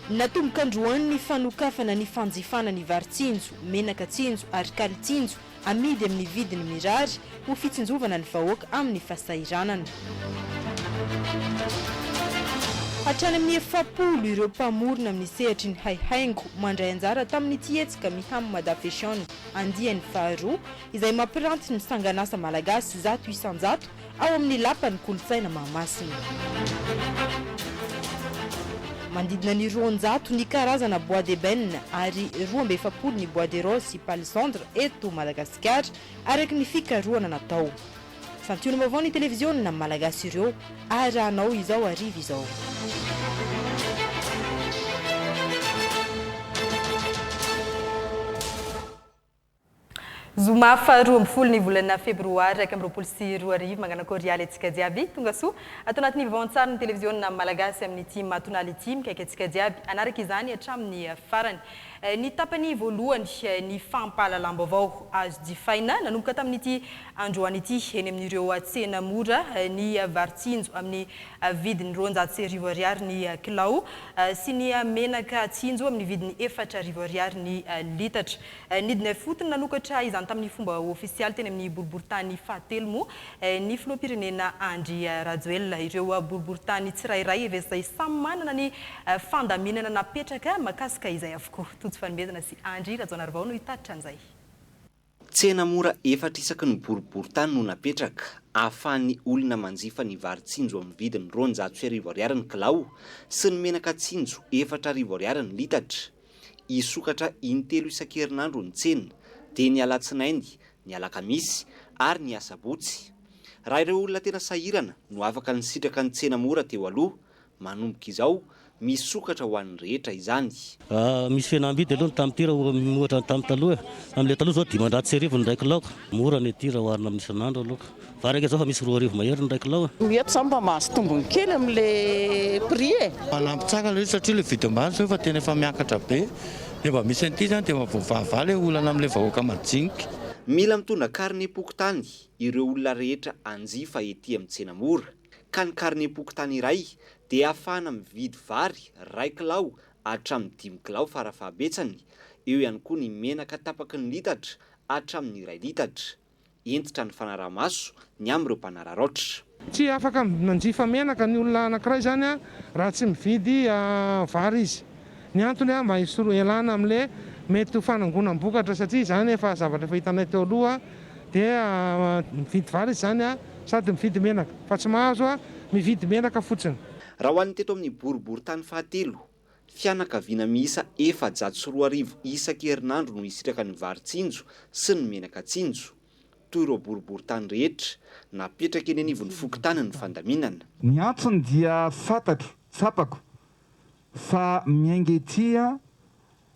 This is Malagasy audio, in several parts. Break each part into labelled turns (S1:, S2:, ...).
S1: Natomboka androany ny fanokafana ny fanjifana ny vary tsinjo, menaka tsinjo ary kaly tsinjo Amidy amin'ny vidiny mirary ho fitsinjovana ny vahoaka amin'ny fasahiranana. Hatrany amin'ny efapolo ireo mpamorona amin'ny sehatry ny haihaingo mandray anjara tamin'ity hetsika Miham Mada Fashion andiany faharoa izay mampiranty ny sangan'asa malagasy zato isan-jato ao amin'ny Lapan'ny Kolontsaina Mahamasina. Manodidina ny roanjato ny karazana bois d'ébène ary roa amby efapolo ny bois de rose sy palissandre eto Madagasikara, araka ny fikarohana natao. Santionam-baovao ny televiziona malagasy ireo arahanao izao hariva izao. Zoma faha roa ambin'ny folo ny volana febroary iraika amby roapolo sy roa arivo. Manganakôry ialy antsika jiaby. Tonga soa ato anatin'ny vaoantsarin'ny televiziona malagasy amin'ity matonala ity. Mikaiky antsika jiaby hanaraka izany hatramin'ny farany. Ny tapany voalohany ny fampahalalam-baovao azo jifaina nanomboka tamin'ity androany ity eny amin'ireo tsena mora ny vary tsinjo amin'ny vidiny roanjato sy arivo ariary ny kilao sy ny menaka tsinjo amin'ny vidiny efatra arivo ariary ny litatra. Nidina ifotony nanokatra izany tamin'ny fomba ofisialy teny amin'ny boriborintany fahatelo moa ny filoham-pirenena Andry Rajoelina. Ireo boriborintany tsirairay efa izay samy manana ny fandaminana napetraka makasika izay avokoa. Tojo fanomezana sy Andry Rajaonarivao no hitatitra an'izay. Tsena
S2: mora efatra isaky ny boriborintany no napetraka, ahafahan'ny olona manjifa ny vary tsinjo amin'ny vidiny roanjato sy arivo ariary ny kilao sy ny menaka tsinjo efatra arivo ariary ny litatra. Hisokatra intelo isan-kerinandro ny tsena, dia ny alatsinainy, ny alakamisy ary ny asabotsy. Raha ireo olona tena sahirana no afaka nisitraka ny tsena mora teo aloha, manomboka izao misokatra ho an'ny rehetra izany. Raha misy fihenam-bidy
S3: aloha ny tamin'ny tir oha ohatra ny tamin'ny taloha e, amin'ilay taloha izao dimanjato sy arivo ny iray kilaoka, mora ny tir oha oharina amin'ny isan'andro aloha. Varaka izao fa misy roa arivo mahery ny iray kilao e! Ny eto izany mba mahazo
S4: tombony kely amin'ilay prix e! Manampy tsara ilay izy satria
S5: ilay vidy ambany zao efa tena efa miakatra be dia mba misy an'ity izany dia mba voavaha ilay olana amin'ilay vahoaka majinika. Mila mitondra
S2: karnem-pokontany ireo olona rehetra hanjifa ety amin'ny tsena mora ka ny karnem-pokontany iray dia ahafahana mividy vary iray kilao hatramin'ny dimy kilao farafahabetsany, eo ihany koa ny menaka tapaky ny litatra hatramin'ny iray litatra. Hentitra ny fanaraha-maso ny amin'ireo mpanararaotra. Tsy afaka
S6: manjifa menaka ny olona anankiray izany raha tsy mividy vary izy. Ny antony mba hialana amin'ilay mety ho fanangonam-bokatra satria izany efa zavatra efa hitanay teo aloha dia mividy vary izy izany sady mividy menaka fa tsy mahazo mividy menaka fotsiny. Raha ho an'ny teto
S2: amin'ny boriborintany fahatelo, Fianakaviana miisa efajato sy roa arivo isaky herinandro no hisitraka ny vary tsinjo sy ny menaka tsinjo. Toy ireo boriborintany rehetra, napetraka eny anivon'ny fokontany ny fandaminana. Ny antsony dia
S7: fantatro, tsapako, fa miainga ety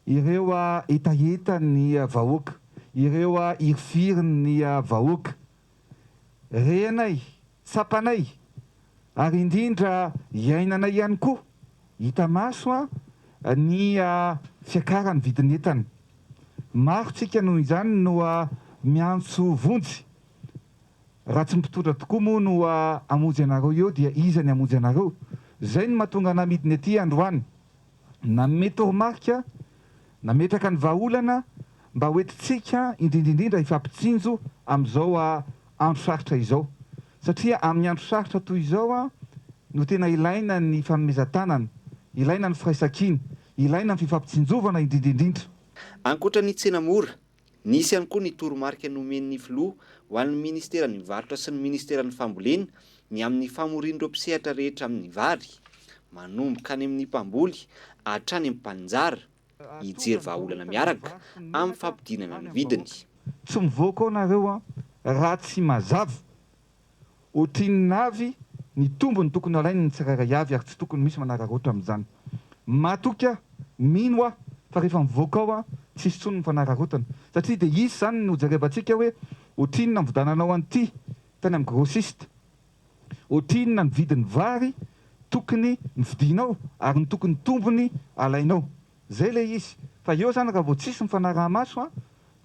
S7: ireo hetahetan'ny vahoaka, ireo hirifirin'ny vahoaka. renay, tsapanay ary indrindra iainanay ihany koa, hita maso ny fiakaran'ny vidin'entana. Maro tsika noho izany no miantso vonjy, raha tsy mpitondra tokoa moa no hamonjy anareo eo dia iza ny hamonjy anareo? Zay no mahatonga anah midina ety androany. Nanome toromarika nametraka ny vahaolana mba ho entintsika indrindra indrindra hifampitsinjo amin'izao andro sarotra izao satria amin'ny andro sarotra toy izao no tena ilaina ny fanomezan-tanana, ilaina ny firaisankina, ilaina ny fifampitsinjovana indrindra indrindra. Ankoatra ny
S2: tsena mora, Nisy ihany koa ny toromarika nomen'ny Filoha ho an'ny Ministeran'ny Varotra sy ny Ministeran'ny Fambolena ny amin'ny famorian'ireo mpisehatra rehetra amin'ny vary, manomboka any amin'ny mpamboly hatrany amin'ny mpaninjara, hijery vahaolana miaraka amin'ny fampidinana ny vidiny. Tsy mivoaka
S7: ao nareo an! Raha tsy mazava. Ohatrinona avy ny tombony tokony halain' ny tsirairay avy ary tsy tokony misy manararaotra amin' izany. Matoky aho, mino aho fa rehefa mivoaka ao aho tsy hisy intsony ny fanararaotana satria dia hisy izany ny hojerevantsika hoe ohatrinona ny vidananao an' ity tany amin' ny grossiste, ohatrinona ny vidin' ny vary tokony novidianao ary ny tokony tombony alainao. Izay ilay izy fa eo izany raha vao tsisy mifanaraha-maso an!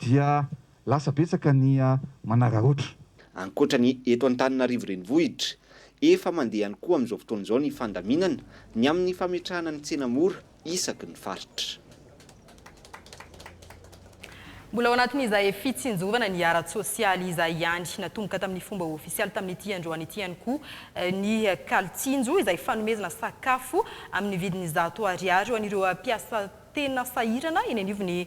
S7: dia lasa betsaka ny manararaotra. Ankoatra ny
S2: eto Antananarivo Renivohitra, efa mandeha ihany koa amin'izao fotoana izao ny fandaminana ny amin'ny fametrahana ny tsena mora isaky ny faritra.
S1: Mbola ao anatin'izay fitsinjovana ny ara-tsosialy izay ihany, natomboka tamin'ny fomba ofisialy tamin'ity androany ity ihany koa ny Kalitsinjo izay fanomezana sakafo amin'ny vidiny zato ariary ho an'ireo mpiasa Tena sahirana eny anivon'ny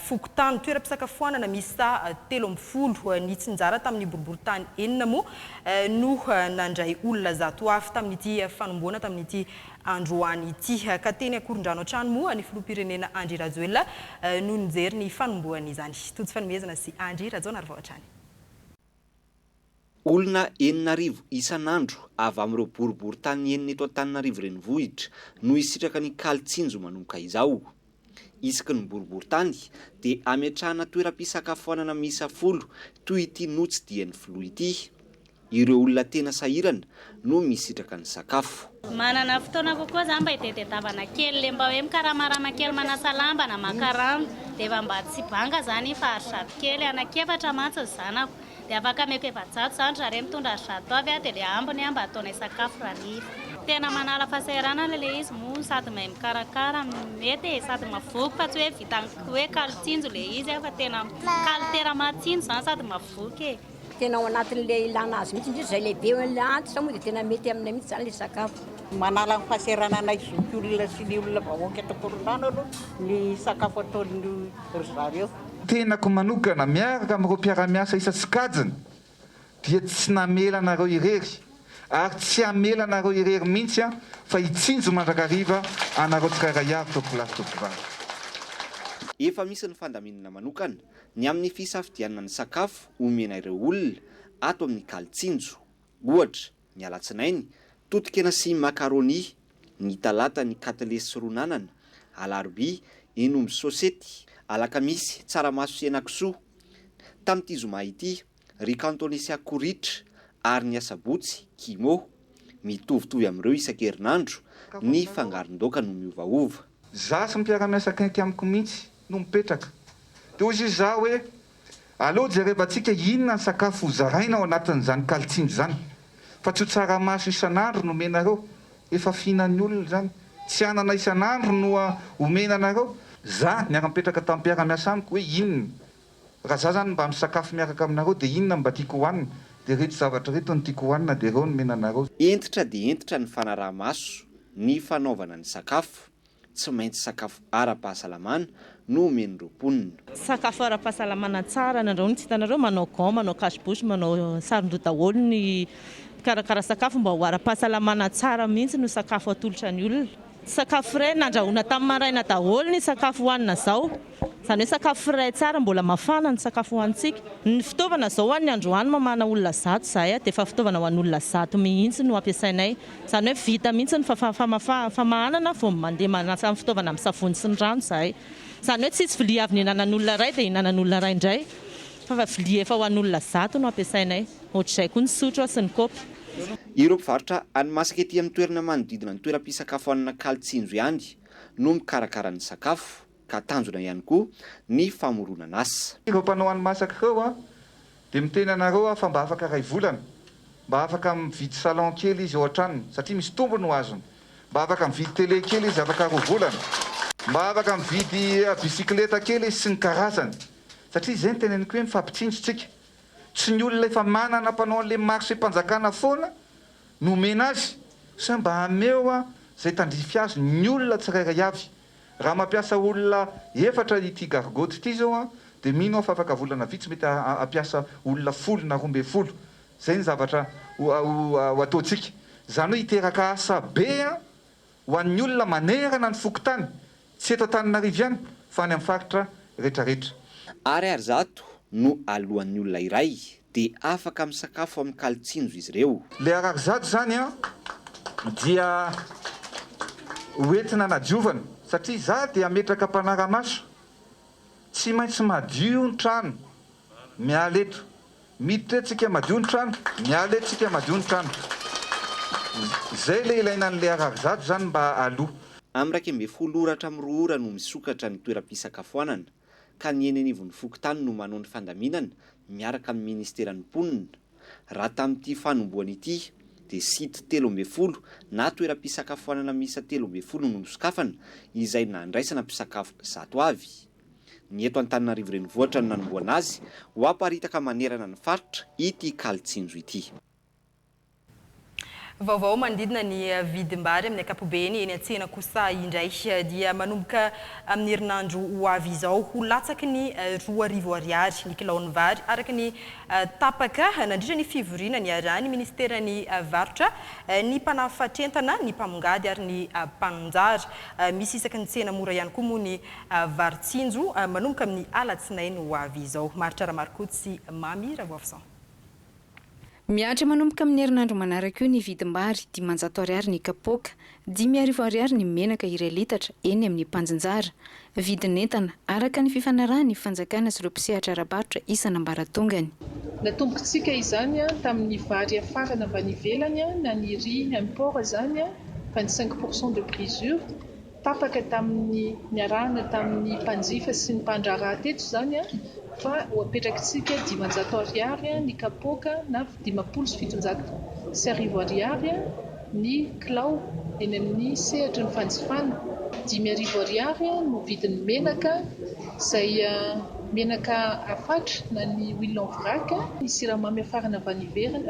S1: fokontany. Toeram-pisakafoanana miisa telo amby folo nitsinjara tamin'ny boriborintany enina moa no nandray olona zato avy tamin'ity fanombohana tamin'ity androany ity. Ka teny Ankorondrano hatrany moa ny filoham-pirenena Andry Rajoelina no nijery ny fanombohan'izany. Tojo fanomezana sy Andry Rajaonarivao hatrany.
S2: Olona enina arivo isan'andro avy amin'ireo boriborintany enina eto Antananarivo Renivohitra no hisitraka ny kalo tsinjo manomboka izao. Isaky ny boriborintany dia hametrahana toeram-pisakafoanana miisa folo toy ity notsidihany filoha ity. Ireo olona tena sahirana no misitraka ny sakafo. Manana fotoana
S8: kokoa za mba hitediatavana kely le mba hoe mikaramarama kely manasa lamba na maka rano de efa mba tsy banga zany iny fa ary zato kely anaky efatra mantsy ny zanako de afaka ameko efajato zany zare mitondra ary zato avy a de le ambiny a mba ataonay sakafo ra niry. Tena manala fasahiranana le izy moa sady mahay mikarakara mety e sady mavoky fa tsy hoe vitan'ny hoe kalo tsinjo le izy a fa tena kalo tera maha tsinjo zany sady mavoky e. Tena ao anatin'ilay
S9: ilana azy mihitsy, indrindra izay lehibe hoe ilay antitra moa dia tena mety aminay mihitsy izany ilay sakafo. Manala ny
S4: fahasahirananay zoky olona sy ny olona vahoaka eto Ankorondrano aloha ny sakafo ataon'i ry zareo. Tenako
S7: manokana, miaraka amin'ireo mpiara-miasa isa sokajiny, dia tsy namela anareo irery, ary tsy hamela anareo irery mihitsy aho fa hitsinjo mandrakariva anareo tsirairay avy, Tompokolahy sy Tompokovavy.
S2: Efa misy ny fandaminana manokana. ny amin'ny fisafidianana ny sakafo omena ireo olona ato amin'ny Kalitsinjo, ohatra, ny alatsinainy, totokena sy macaroni, ny talata ny katilesy ron'anana, alarobia, henomby sôsety, alakamisy, tsaramaso sy henakisoa. Tamin'ity zoma ity, Ry Kantonesià Koritra ary ny Asabotsy, Kimo, mitovitovy amin'ireo isan-kerinandro, ny fangaron-daoka no miovaova. Za sy ny mpiara-miasa
S7: akaiky amiko mihitsy no mipetraka. Dia hoy izy za hoe, aleo jerevantsika inona ny sakafo ho zaraina ao anatin'izany kalitsindry izany. Fa tsy ho tsaramaso isan'andro no omenareo. Efa fihinan'ny olona izany. Tsy anana isan'andro no omena anareo. Za niara-nipetraka tamin'ny mpiara-miasa amiko hoe inona Raha za zany mba misakafo miaraka aminareo de inona no mba tiako hohanina? De reto zavatra reto no tiako hohanina de reo no mena anareo. Hentitra dia hentitra
S2: ny fanaraha-maso ny fanaovana ny sakafo. Tsy maintsy sakafo ara-pahasalamana no omen'ireo mponina. Sakafo
S10: ara-pahasalamana tsara anandrahoina. Tsy hitanareo manao gants, manao cache bouche, manao saron-doha daholo ny mpikarakara sakafo mba ho ara-pahasalamana tsara mihitsy no sakafo atolotra ny olona. Sakafo frais nandrahoina tamin'ny maraina daholo ny sakafo hohanina izao. Izany hoe sakafo frais tsara, mbola mafana ny sakafo hohanintsika. Ny fitaovana izao ho an'ny androany mamahana olona zato izahay dia efa fitaovana ho an'olona zato mihitsy no ampiasainay. Izany hoe vita mihitsy ny famahanana vao mandeha manasa ny fitaovana amin'ny savony sy ny rano izahay. Izany hoe tsisy vilia avy nihinanan'olona iray dia ihinanan'olona iray indray fa vilia efa ho an'olona zato no ampiasainay. Ohatr'izay koa ny sotro sy ny kaopy. Ireo mpivarotra
S2: hani-masaka ety amin'ny toerana manodidina ny toeram-pisakafoanana Kali Tsinjo ihany no mikarakara ny sakafo ka tanjona ihany koa ny famoronana asa. Ireo mpanao hani-masaka
S7: ireo dia miteny anareo aho fa mba afaka iray volana mba afaka mividy salon kely izy ao an-tranony satria misy tombony ho azony, mba afaka mividy tele kely izy afaka roa volana, mba afaka mividy bisikileta kely izy sy ny karazany satria izay no teneniko hoe mifampitsinjo tsika. Tsy ny olona efa manana mpanao an'le marchem-panjakana foana no omena azy sa mba hameo an zay tandrify azy ny olona tsirairay avy? Raha mampiasa olona efatra ity gargotte ity zao an de mino aho fa afaka volana vitsy mety hampiasa olona folo na roa ambin'ny folo. Zay ny zavatra ho ataontsika. Zany hoe hiteraka asa be an ho an'ny olona manerana ny fokontany, tsy eto Antananarivo ihany fa any amin'ny faritra rehetrarehetra. Ariary
S2: zato no aloan'ny olona iray dia afaka misakafo amin'ny kalin-tsinjo izy ireo. Ilay ariary zato izany
S7: dia ho entina hanadiovana satria izaho dia hametraka mpanara-maso, tsy maintsy madio ny trano Miala eto. Miditra eto tsika madio ny trano. Miala eto tsika madio ny trano. Zay le ilaina an'le ariary zato zany mba aloa. Am iraika ambin'ny
S2: folo ora hatramin'ny roa ora no misokatra ny toeram-pisakafoanana, ka ny eny anivon'ny fokontany no manao ny fandaminana miaraka amin'ny ministeran'ny mponina. Raha tamin'ity fanombohana ity dia site telo ambin'ny folo na toeram-pisakafoanana miisa telo ambin'ny folo no nosokafana izay nandraisana mpisakafo zato avy. Ny eto Antananarivo Renivohitra no nanomboana azy ho aparitaka manerana ny faritra ity kalin-tsinjo ity.
S1: Vaovao manodidina ny vidim-bary amin'ny ankapobeny eny an-tsena kosa indray dia manomboka amin'ny herinandro ho avy izao ho latsaky ny roa arivo ariary ny kilaon'ny vary araka ny tapaka nandritra ny fivoriana niarahan'ny minisiteran'ny varotra, ny mpanafatr'entana, ny mpamongady ary ny mpaninjara. Misy isaky ny tsena mora ihany koa moa ny Vary tsinjo manomboka amin'ny alatsinainy ho avy izao. Maharitra Ramarikoto sy Mamy Ravoafison.
S11: Mihatra manomboka amin'ny herinandro manaraka io ny vidim-bary, dimanjato ariary ny kapoaka, dimy arivo ariary ny menaka iray litatra eny amin'ny mpanjinjara. Vidin'entana araka ny fifanarahan'ny fanjakana sy ireo mpisehatra ara-barotra isan'ambaratongany. Natombontsika
S12: izany tamin'ny vary afarana mba any ivelany na ny riz import izany fa ny cinq pour cent de brisure Tapaka tamin'ny niarahana tamin'ny mpanjifa sy ny mpandraharaha teto izany fa ho apetrakitsika dimanjato ariary ny kapoaka na dimampolo sy fitonjato sy arivo ariary ny kilao eny amin'ny sehatry ny fanjifana, dimy arivo ariary no vidin'ny menaka izay menaka afatra na ny huile en vrac, ny siramamy afarana avy any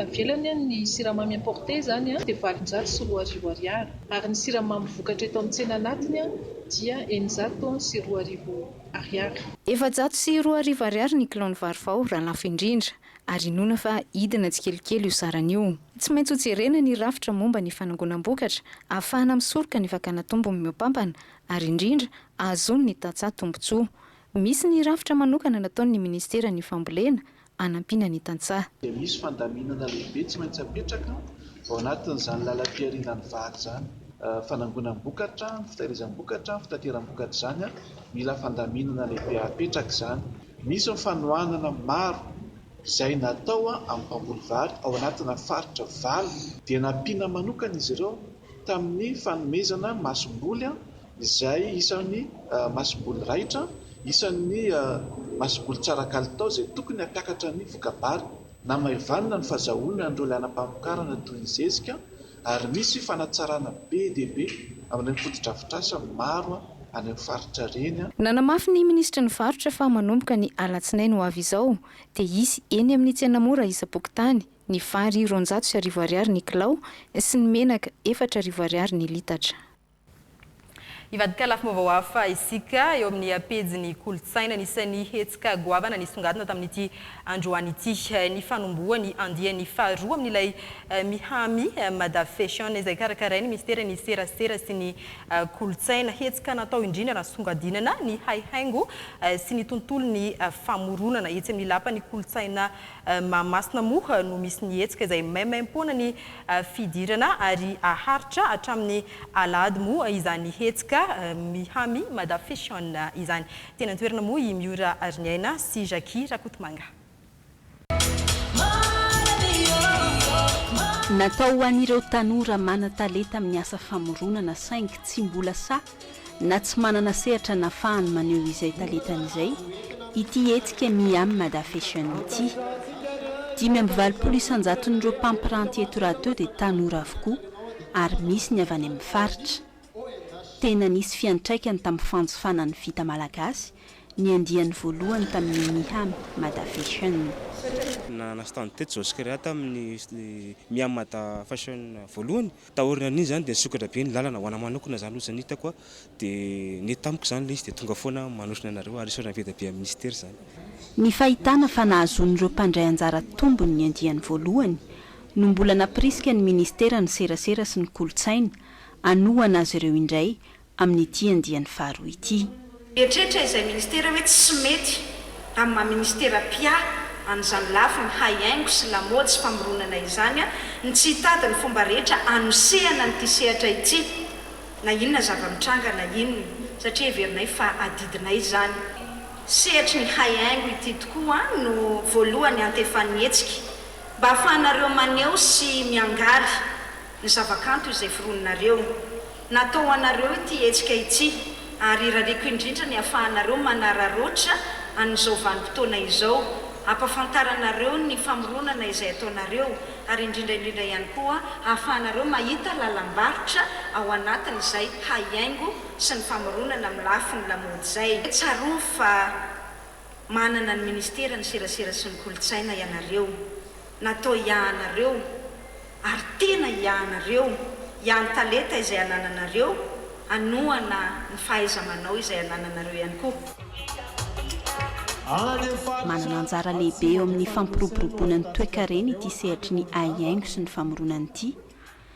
S12: ivelany, ny siramamy importé izany dia valonjato sy roa arivo ariary. Ary ny siramamy vokatra eto amin'ny tsena anatiny dia eninjato sy roa arivo Ariary. Efajato sy
S11: roa arivo Ariary ny kilao ny vary vao raha lafo indrindra, ary inoana fa hidina tsikelikely io sarany io. Tsy maintsy hojerena ny rafitra momba ny fanangonam-bokatra ahafahana misoroka ny fakana tombony mihoapampana ary indrindra ahazoan'ny tantsaha tombontsoa. Misy ny rafitra manokana nataon'ny Ministeran'ny Fambolena hanampiana ny tantsaha. dia misy fandaminana
S13: lehibe tsy maintsy apetraka ao anatin'izany lalam-piharianan'ny vary izany. Fanangonam-bokatra, ny fitahirizam-bokatra, ny fitateram-bokatra izany, mila fandaminana lehibe apetraka izany. Misy ny fanohanana maro izay natao amin'ny mpamboly vary ao anatina faritra valo. Dia nampiana manokana izy ireo tamin'ny fanomezana masomboly izay isan'ny masomboly raitra, isan'ny masomboly tsara kalitao izay tokony hampiakatra ny voka-bary. Namaivanina ny fazahoana an'ireo lalam-pamokarana toy ny zezika ary misy fanatsarana be dia be amin'ireny fotodrafitrasa maro any amin'ny faritra ireny. Nanamafy ny minisitry
S11: ny varotra fa manomboka ny alatsinainy ho avy izao dia hisy eny amin'ny tsena mora isam-pokontany, Ny vary roanjato sy arivo ariary ny kilao sy ny menaka efatra arivo ariary ny litatra.
S1: Hivadika lafim-baovao hafa isika eo amin'ny pejin'ny kolontsaina. Anisan'ny hetsika goavana nisongadina tamin'ity androany ity ny fanombohan'ny andiany faharoa amin'ilay Mihami Mada Fashion izay karakarain'ny minisiteran'ny Serasera sy ny kolontsaina. Hetsika natao indrindra nasongadinana ny haihaingo sy ny tontolon'ny famoronana etsy amin'ny lapan'ny kolontsaina Mahamasina moa no misy ny hetsika izay maimaimpoana ny fidirana ary haharitra hatramin'ny alahady moa izany hetsika Miha-mi Mada Fashion izany. Teny an-toerana moa i Miora Ariniaina sy Jackie Rakotomanga.
S14: Natao ho an'ireo tanora manan-talenta amin'ny asa famoronana saingy tsy mbola sahy na tsy manana sehatra nafahany maneho izay talentany izay ity hetsika Me I'm Mada Fashion ity. Dimy amby valopolo isan-jaton'ireo mpampiranty eto raha teo dia tanora avokoa ary misy ny avy any amin'ny faritra. Tena nisy fiantraikany tamin'ny fanjifana ny vita malagasy ny andiany voalohany tamin'ny Me I'm Mada Fashion. Nanana
S15: stand teto Jos Créa tamin'ny Me I'm Mada Fashion voalohany Taoriana an'iny izany dia nisokatra be ny lalana, ho ana manokana izany ohatr'izay ny hitako dia nety tamiko izany ilay izy dia tonga foana manotrona anareo ary isaorana be dia be an'i Mister izany. Ny fahitana
S14: fa nahazoan'ireo mpandray anjara tombony ny andiany voalohany no mbola nampirisika ny Minisitera ny Serasera sy ny Kolontsaina hanohana azy ireo indray amin'ity andiany faharoa ity. Mieritreritra izay
S16: ministera hoe tsy mety amin'ny maha ministera mpia an'izany lafiny haihaingo sy lamaody sy famoronana izany ny tsy hitady ny fomba rehetra anosehana an'ity sehatra ity na inona zava-mitranga na inona satria heverinay fa adidinay izany. Sehatry ny haihaingo ity tokoa no voalohany hantefan'ny hetsika mba hahafahanareo maneho sy miangaly ny zavakanto izay foroninareo. Natao ho anareo ity hetsika ity ary irariako indrindra ny hafahanareo manararaotra an'izao vanim-potoana izao, hampafantaranareo ny famoronana izay ataonareo ary indrindra indrindra ihany koa hahafahanareo mahita lalam-barotra ao anatin'izay haihaingo sy ny famoronana amin'ny lafiny lamaody izay. Tsarovy fa Manana ny ministeran'ny serasera sy ny kolontsaina ianareo. Natao hiahanareo ary tena hiahanareo, hiahan'ny talenta izay anananareo, hanohana ny fahaiza-manao izay anananareo ihany koa.
S14: Manana anjara lehibe eo amin'ny fampiroboroboana ny toekarena ity sehatry ny haihaingo sy ny famoronana ity.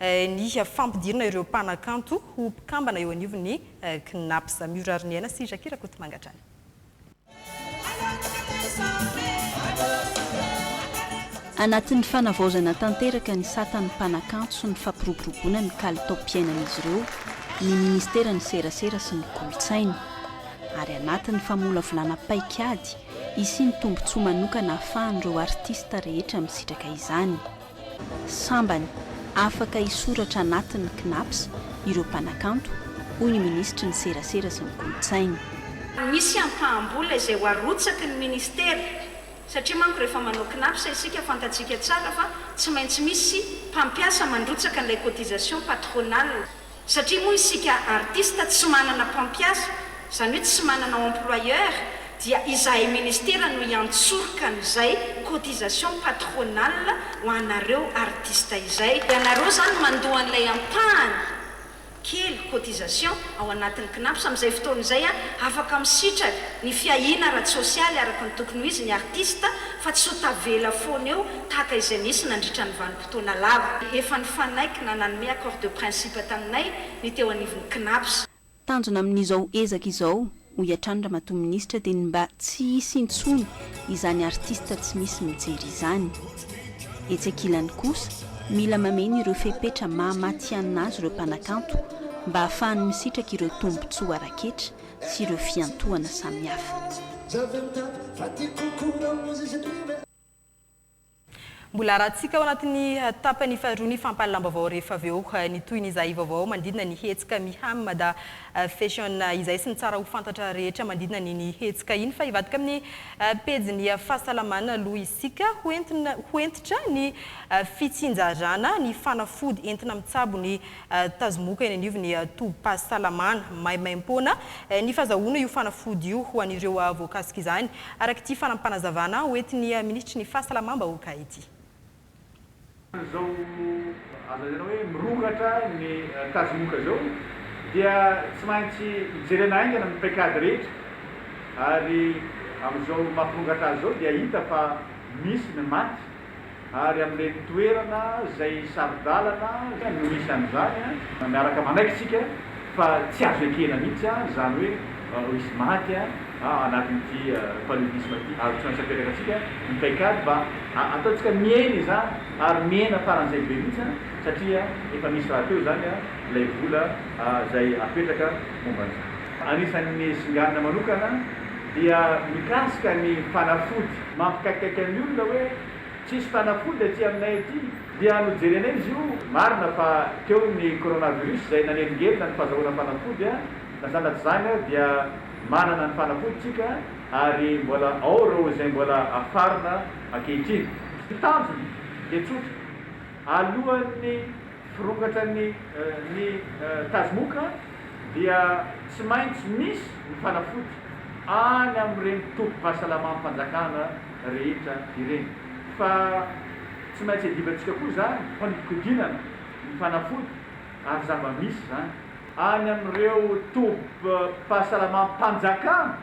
S1: ny fampidirana ireo mpanakanto ho mpikambana eo anivon'ny Cnaps. Mijoro Ariniaina sy Jackie Rakotomanga hatrany.
S14: Anatin'ny fanavaozana tanteraka ny satan'ny mpanakanto sy ny fampiroboroboana ny kalitaom-piainan'izy ireo ny minisiteran'ny Serasera sy ny Kolontsaina. Ary anatin'ny famolavolana paik'ady hisian'ny tombontsoa manokana ahafahan'ireo artista rehetra misitraka izany. Sambany afaka hisoratra anatin'ny Cnaps ireo mpanakanto, hoy ny minisitry ny Serasera sy ny Kolontsaina. Misy
S16: ampaham-bola izay ho arotsaky ny minisitera, satria manko rehefa manao Cnaps isika fantatsika tsara fa tsy maintsy misy mpampiasa mandrotsaka an'ilay cotisation patronale. Satria moa isika artista tsy manana mpampiasa, izany hoe tsy manana employeur, dia izahay ministera no hiantsoroka an'izay cotisation patronale ho anareo artista izay. Ianareo izany mandoa an'ilay ampahany kely cotisation ao anatin'ny Cnaps. Amin'izay fotoana izay, afaka misitraka ny fiahiana ara-tsosialy araka ny tokony ho izy ny artista fa tsy ho tavela foana eo tahaka izay nisy nandritra ny vanim-potoana. taona lava. Efa nifanaiky na nanome accord de principe taminay ny teo anivon'ny Cnaps. Tanjona amin'izao
S14: ezaka izao, hoy hatrany Ramatoa Minisitra, dia ny mba tsy hisy intsony izany artista tsy misy mijery izany. Etsy ankilany kosa, mila mameno ireo fepetra maha matihanina azy ireo mpanakanto mba hahafahany misitraka ireo tombontsoa ara-ketra sy ireo fiantohana samihafa.
S1: Mbola arahantsika ao anatin'ny tapany faharoa ny fampahalalam-baovao rehefa avy eo ny tohin'izay vaovao manodidina ny hetsika Miham Mada Fashion izay sy ny tsara ho fantatra rehetra manodidina an'iny hetsika iny fa hivadika amin'ny pejin'ny fahasalamana aloha isika ho hentitra ny fitsinjarana ny fanafody entina mitsabo ny Tazomoka eny anivon'ny tobim-pahasalamana maimaimpoana ny fazahoana io fanafody io ho an'ireo voakasika izany, araka ity fanampanazavana hoentin'ny minisitry ny Fahasalamam-bahoaka ity. Amin'izao
S17: azo lazaina hoe mirongatra ny tazomoka izao dia tsy maintsy jerena haingana ny paikady rehetra ary amin'izao mampirongatra azy izao dia hita fa misy ny maty. ary amin'ireny toerana izay saro-dalana no misy an'izany, miaraka manaiky isika fa tsy azo ekena mihitsy izany hoe ho hisy maty anatin'ity paludisme ity, ary tsy maintsy apetraka antsika ny paikady mba hataontsika mihena izany, ary mihena faran'izay be mihitsy, satria efa misy rahateo izany ilay vola izay apetraka momba an'izany. Anisan'ny singanina manokana dia mikasika ny fanafody. Mampikaikaika ny olona hoe tsisy fanafody aty aminay aty dia nojerenay izy io, marina fa teo ny coronavirus izay nanelingelina ny fazahoana fanafody a, na sanatry izany ary dia manana ny fanafody tsika ary mbola ao ireo izay mbola afarina ankehitriny. Ny tanjona dia tsotra, alohan'ny. Vokatran'ny ny Tazmuk dia tsy maintsy misy ny fanafody any amin'ireny tobim-pahasalamam-panjakana rehetra ireny. Fa tsy maintsy adivantsika koa izany fanodikodinana ny fanafody ary zava-misy izany. Any amin'ireo tobim-pahasalamam-panjakana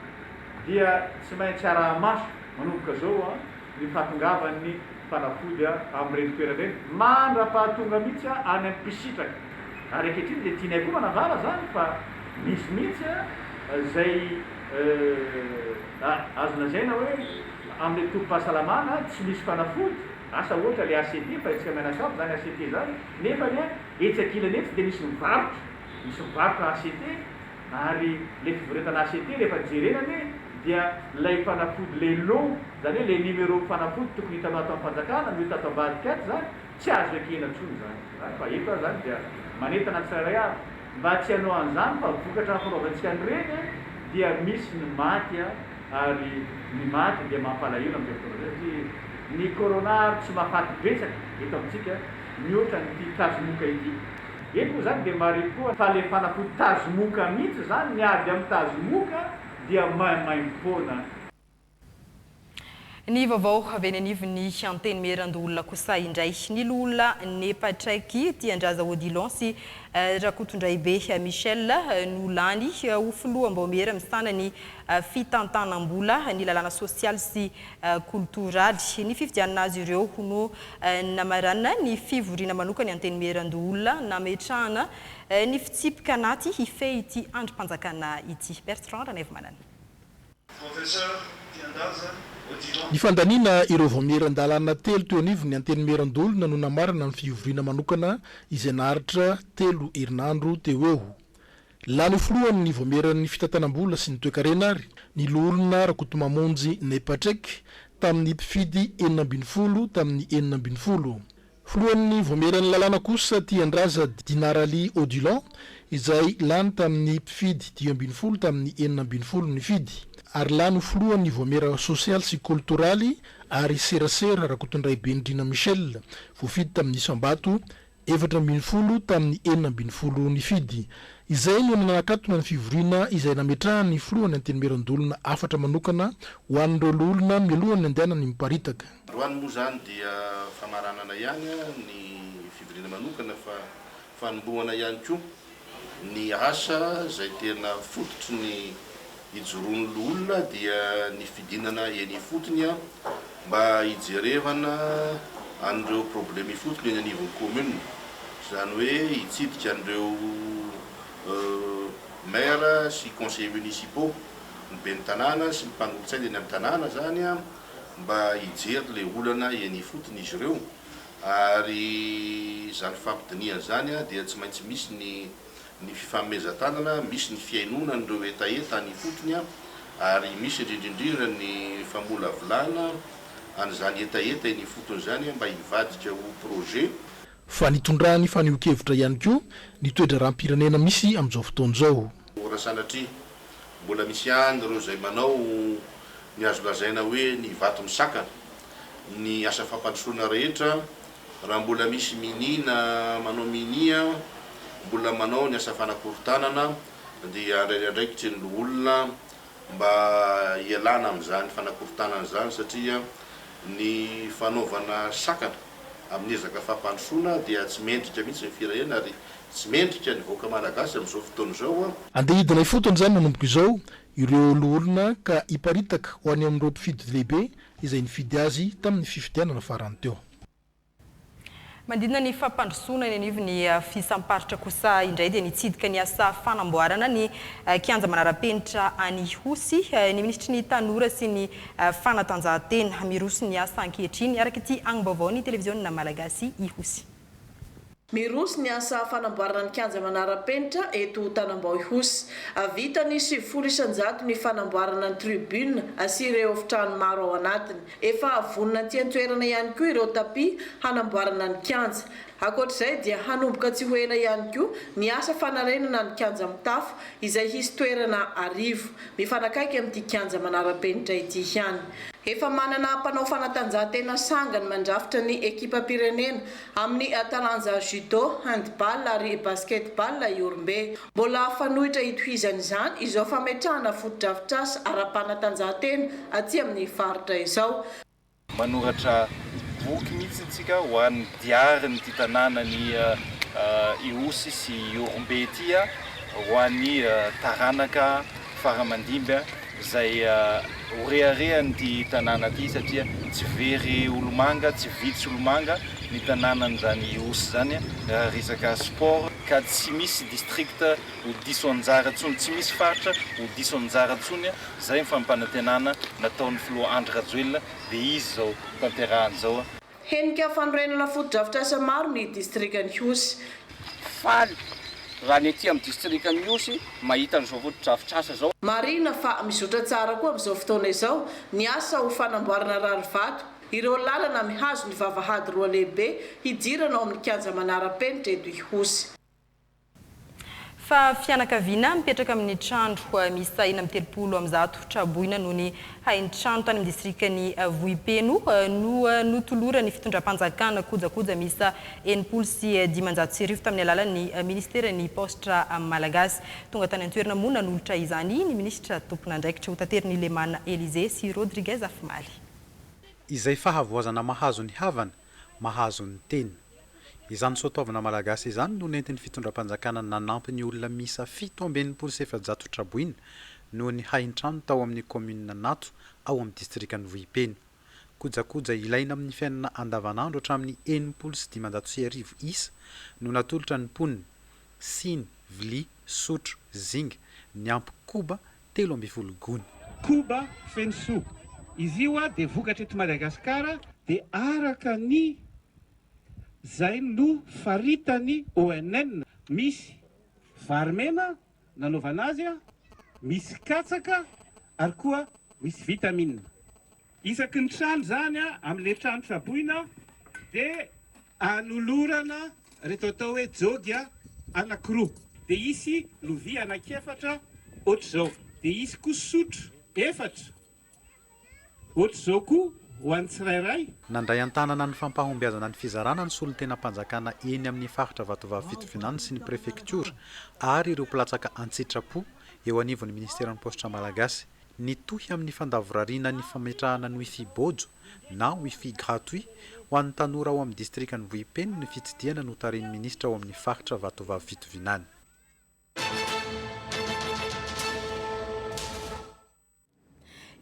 S17: dia tsy maintsy araha-maso manomboka izao. ny fahatongavan'ny fanafody amin'ireny toerana ireny mandra-pahatonga mihitsy any amin'ny mpisitraka ary ankehitriny dia tianay koa manambara izany fa misy mihitsy izay azo lazaina hoe amin'ny tobim-pahasalamana tsy misy fanafody asa ohatra ilay ACT fa hetsika mianakavy izany ACT izany nefa ny etsy ankilany etsy dia misy mivarotra misy mivarotra ACT Ary ilay fivoretana HET rehefa jerena anie dia ilay fanafody ilay lot, izany hoe ilay numéro fanafody tokony hitanao ato am-panjakana no hita ato ambadika ato izany, tsy azo ekena intsony izany izany fa eto aho izany dia manentana ny tsirairay avy mba tsy hanao an'izany fa vokatra hampiraovantsika ny reny dia misy ny maty a, ary ny maty dia mampalahelo amin'izay fotoana izay satria ny corona ary tsy mahafaty betsaka eto amintsika mihoatra an'ity tazomoka ity. Eto moa zany dia maripoa falefana ko tazomoka mihitsy zany ny ady am tazomoka dia maimaimpoana.
S1: Ny vaovao avy eny anivon'ny Antenimierandoholona kosa indray. Ny loholona nepa Traiky Tiandraza Odilon sy Rakotondraibe Michel no lany ho filoham-baomiera misahana ny fitantanam-bola, ny lalàna sosialy sy. Culturali. Ny fifidianana azy ireo ho no namaranina ny fivoriana manokany antenimierandoholona nametrahana ny fitsipika anaty hifehy ity andrim-panjakana ity. Bertrand Ranaivomanana. Professeur
S18: Tiandaza Odilon. Ny
S19: fandaniana ireo vaomieran-dalàna telo teo anivon'ny antenimierandoholona no namarana ny fivoriana manokana izay naharitra telo herinandro teo eo. Lany ho filohan' ny Vaomieran' ny fitantanam-bola sy ny toekarena ary ny Loholona Rakotomamonjy Naipatrek tamin' ny mpifidy enina ambin'ny folo tamin' ny enina ambin'ny folo. Filohan' ny Vaomieran' ny lalàna kosa Tiandraza Dinaraly Odilon izay lany tamin' ny mpifidy dimy ambin'ny folo tamin' ny enina ambin'ny folo nifidy ary lany ho filohan' ny Vaomiera Sosialy sy Koltoraly ary Serasera Rakotondraibe Ndrina Michel voafidy tamin' ny isam-bato efatra ambin'ny folo tamin'ny enina ambin'ny folo nifidy. Izay no nanakatona ny fivoriana izay nametrahan'ny filohan'ny Antenimieran-doholona hafatra manokana ho an'ireo loholona mialohan'ny handehanany miparitaka. Androany moa izany
S18: dia famaranana ihany ny fivoriana manokana fa fanombohana ihany koa. Ny asa izay tena fototry ny ijoroan'ny loholona dia ny fidinana eny ifotony mba hijerevana an'ireo problème ifotony eny anivon'ny commune, izany hoe hitsidika an'ireo maire sy conseillers municipaux, ny ben'ny tanàna sy ny mpanolo-tsaina eny amin'ny tanàna izany mba hijery ilay olana eny ifotony izy ireo. Ary izany fampidinihana izany dia tsy maintsy misy ny ny fifanomezan-tanana, misy ny fihainoana an'ireo hetaheta any ifotony ary misy indrindrindrindra ny famolavolana an'izany hetaheta eny ifotony izany mba hivadika ho projet. Fa nitondra
S19: ny fanehoan-kevitra ihany koa ny toe-draharaham-pirenena misy amin'izao fotoana izao. Ora sanatria.
S18: Mbola misy ihany ireo izay manao ny azo lazaina hoe ny vato misakana ny asa fampandrosoana rehetra, raha mbola misy minia na manao minia mbola manao ny asa fanakorontanana dia handray ny andraikitry ny loholona mba hialana amin'izany fanakorontanana izany satria ny fanaovana sakana amin'ny ezaka fampandrosoana dia tsy mendrika mihitsy ny firenena ary Tsy mendrika ny vahoaka malagasy amin'izao fotoana izao an! Andeha hidina ifotony
S19: izany manomboka izao ireo loholona ka hiparitaka ho any amin'ireo mpifidy lehibe izay nifidy azy tamin'ny fifidianana farany teo.
S1: Manodidina ny fampandrosoana eny anivon'ny fihisam-paritra kosa indray dia nitsidika ny asa fanamboarana ny kianja manara-penitra any Ihosy ny minisitry ny Tanora sy ny fanatanjahantena. Miroso ny asa ankehitriny araka ity angom-baovaon'ny televiziona malagasy Ihosy. Miroso
S20: ny asa fanamboarana ny kianja manara-penitra eto Tanambao-Ihosy. Vita ny sivifolo isan-jato ny fanamboarana ny tribune sy ireo efitrano maro ao anatiny. Efa vonona aty an-toerana ihany koa ireo tapis hanamboarana ny kianja. Ankoatr'izay dia hanomboka tsy ho ela ihany koa ny asa fanarenana ny kianja mitafo izay hisy toerana arivo. Mifanakaiky amin'ity kianja manara-penitra ity ihany. Efa manana mpanao fanatanjahantena sangany mandrafitra ny ekipam-pirenena amin'ny taranja Judo, Handball ary Basketball i Ihorombe. Mbola fanoitra hitohizana izany izao fametrahana fotodrafitrasa ara-panatanjahantena aty amin'ny faritra izao. Manoratra
S21: boky mihitsy isika ho an'ny diarin'ity tanànan'i Ihosy sy Ihorombe ity, ho an'ny taranaka faramandimby izay ho reharehan'ity tanàna ity satria tsy very olomanga, tsy vitsy olomanga ny tanànan'izany Ihosy izany raha resaka sport ka tsy misy district ho diso anjara intsony, tsy misy faritra ho diso anjara intsony. Izay ny fampanantenana nataon'ny filoha Andry Rajoelina dia izy izao tanterahany izao a! Henika
S20: fanorenana fotodrafitrasa maro ny distrikan'Ihosy. Faly
S3: raha ny ety amin'ny distrikan'Ihosy mahita an'izao fotodrafitrasa izao. Marihina fa mizotra
S20: tsara koa amin'izao fotoana izao ny asa ho fanamboarana rarivato ireo lalana mihazo ny vavahady roa lehibe hidirana ao amin'ny kianja manara-penitra eto Ihosy. Fa
S1: fianakaviana mipetraka amin'ny trandro misy sahina amin'ny telopolo amin'ny zato traboina noho ny hain-trano tany amin'ny distrikan'i Vohipeno no notoloran'ny fitondram-panjakana kojakoja miisa enimpolo sy dimanjato sy arivo tamin'ny alalan'ny minisiteran'ny Paositra Malagasy. Tonga tany an-toerana moa nanolotra izany ny minisitra tompon'andraikitra. Hotaterin'i Lemana Elysée sy Rodriguez Afimaly. Izay
S22: fahavoazana mahazo ny havana mahazo ny tena. Izany soatoavina malagasy izany no nentin'ny fitondram-panjakana nanampy ny olona miisa fito amby enimpolo sy efajato traboina noho ny hain-trano tao amin'ny kaominina Natso ao amin'ny distrikan'i Vohipeno. Kojakoja ilaina amin'ny fiainana andavanandro hatramin'ny enimpolo sy dimanjato sy arivo isa no natolotra ny mponina, siny, vilia, sotro, zinga, niampy koba telo ambin'ny folo gony. Koba
S6: feno soa. Izy io a dia vokatra eto Madagasikara dia araka ny zay no faritany ONN. Misy vary mena nanaovana azy a, misy katsaka ary koa misy vitamine. Isaky ny trano izany amin'ilay trano traboina dia anolorana ireto atao hoe jôgy anankiroa, dia hisy lovia anankiefatra ohatr'izao, dia hisy koa sotro efatra ohatr'izao koa ho an'ny tsirairay. Nandray an-tanana
S22: ny fampahombiazana ny fizarana ny solontenam-panjakana eny amin'ny faritra Vatovavy Fitovinany sy ny prefektiora ary ireo mpilatsaka an-tsitrapo eo anivon'ny ministeran'ny paositra malagasy. Nitohy amin'ny fandavorariana ny fametrahana ny Wifi Bojo na Wifi gratuit ho an'ny tanora ao amin'ny distrikan'i Vohipeno ny fitsidihana notarihin'ny minisitra ao amin'ny faritra Vatovavy Fitovinany.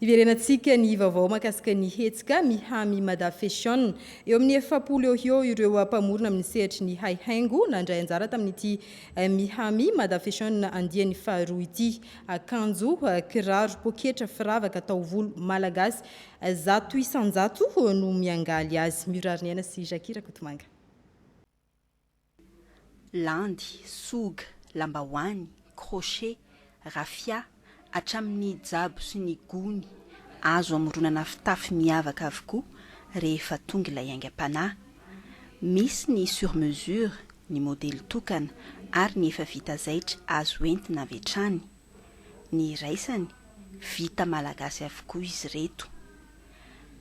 S1: Hiverenantsika ny vaovao mahakasika ny hetsika Miha-mi Mada Fashion. Eo amin'ny efapolo eo ho eo ireo mpamorona amin'ny sehatry ny haihaingo nandray anjara tamin'ity Miha-mi Mada Fashion andiany faharoa ity. Akanjo, kiraro, poketra, firavaka, taovolo, malagasy zato isan-jato no miangaly azy. Miorary ny aina sy Jackie Rakotomanga.
S14: Landy, soga, lambahoany, crochet, raffia, hatramin'ny jabo sy ny gony, azo amoronana fitafy miavaka avokoa rehefa tonga ilay aingam-panahy. Misy ny sur mesure, ny modely tokana, ary ny efa vita zaitra azo entina avy hatrany. Ny iraisany, vita malagasy avokoa izy ireto.